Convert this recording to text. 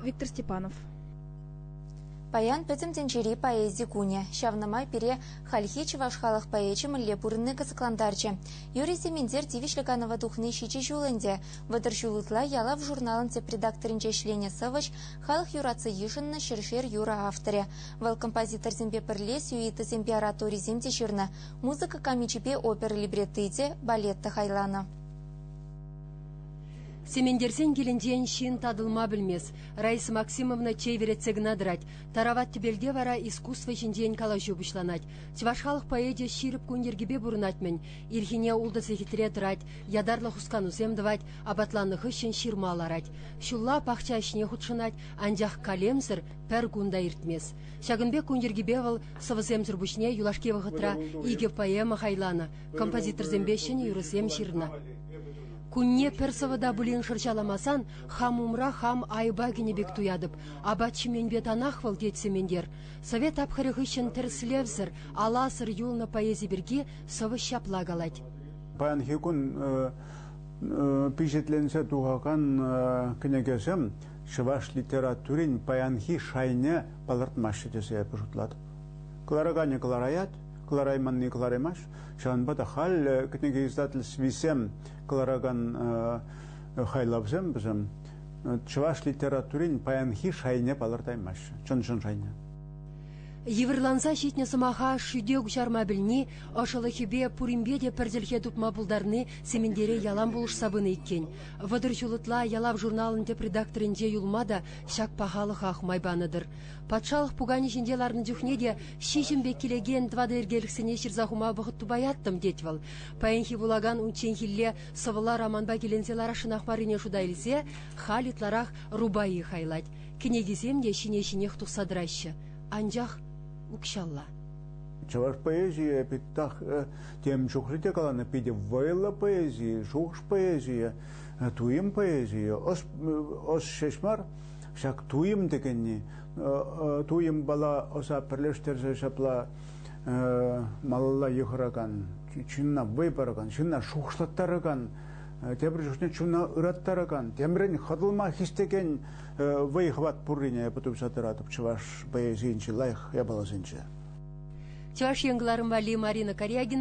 виктор степанов Паян Пӗтӗм тӗнчери поэзи кунӗ. Ҫавна май пире хальхи чӑваш халӑх поэчӗ мӗнле пурӑнни кӑсӑклантарчӗ. Юрий Сементер тивӗҫлӗ канӑва тухни ҫичӗ ҫул ӗнтӗ. Вӑтӑр ҫул ытла Ялав журналӑн тӗп редакторӗнче ӗҫленӗ сӑвӑҫ, халӑх юратса йышӑннӑ ҫӗршер юрӑ авторӗ. Вӑл композиторсемпе пӗрле сюитӑсемпе ораторисем те ҫырнӑ, музыка камичӗпе опера либретти те, балет та хайланӑ. Сементерсен килӗнчен ҫын татӑлма пӗлмест. Раиса Максимовна чей вӗретсе кӑна тӑрать. Тарават тӗпелте вара искусство ҫинчен калаҫу пуҫланать. Чӑваш халӑх поэчӗ ҫирӗп кун йӗркипе пурӑнать-мӗн. Ирхине ултӑ сехетре тӑрать, ятарлӑ хусканусем тӑвать, апатланнӑ хыҫҫӑн ҫырма ларать. Ҫулла пахча ӗҫне хутшӑнать, анчах калемсӗр пӗр кун та иртмест. Ҫакӑн пек кун йӗркипе вӑл сӑвӑсемсӗр пуҫне юлашки вӑхӑтра икӗ поэма хайланӑ, композиторсемпе ҫӗнӗ юрӑсем ҫырнӑ. Кунне пӗр сӑвӑта пулин шӑрҫаламасан хам умра хам айӑпа кӗнӗ пек туятӑп. Апат ҫименпе танах вӑл, тет Сементер. Совет тапхӑрӗ хыҫҫӑн тӗрӗслевсӗр, аласӑр юлнӑ поэзи пирки сӑвӑҫ ҫапла калать. Паянхи кун пичетленсе тухакан кӗнекесем чӑваш литературин паянхи шайне палӑртмаҫҫӗ тесе эпӗ шутлатӑп. Кӑлараканӗ кӑлараять, кӑларайманни кӑлараймасть. Ҫавӑнпа та халӗ кӗнеке издательствисем кӑларакан хайлавсем вӗсем чӑваш литературин паянхи шайне палӑртаймаҫҫӗ, чӑн-чӑн шайне. Йывӑрланса ҫитнӗ сӑмаха шӳте куҫарма пӗлни, ӑшӑлӑхӗпе пуринпе те пӗр чӗлхе тупма пултарни Сементере ялан пулӑшса пынӑ иккен. Вӑтӑр ҫул ытла ялав журналӑн тӗп редакторӗнче юлма та ҫак пахалӑхах май панӑ-тӑр. Патшалӑх пуканӗ ҫинче ларнӑ чухне те ҫиҫӗм пек килекен тӑватӑ йӗркелӗхсене ҫырса хума вӑхӑт тупаяттӑм, тет вӑл. Паянхи вулакан унчченхилле сӑвӑла романпа киленсе ларасшӑнах маррине шута илсе халь ытларах рубаи хайлать. Кӗнекисем те ҫине-ҫинех тухса тӑраҫҫӗ. Анчах укҫалла. Чӑваш поэзийӗ питтах э, тем чухлӗ те каланӑ, питӗ вӑйлӑ поэзийӗ, шухӑш поэзийӗ, э, туйӑм поэзийӗ, ӑс, ӑс ҫеҫ мар, Ҫак туйӑм текенни, туйӑмпала ӑса пӗрлештерсе ҫапла малалла йыхӑракан, ҫынна вӑй паракан, ҫынна шухӑшлаттаракан, тепӗр чухне чуна ыраттаракан, темрен хӑтӑлма хистекен вӑй-хӑват пуррине пытӑмса тӑратӑп чӑваш поэзийӗнчи лайӑх япаласенче. Чӑваш Ен кӑларӑм валли Марина Корягина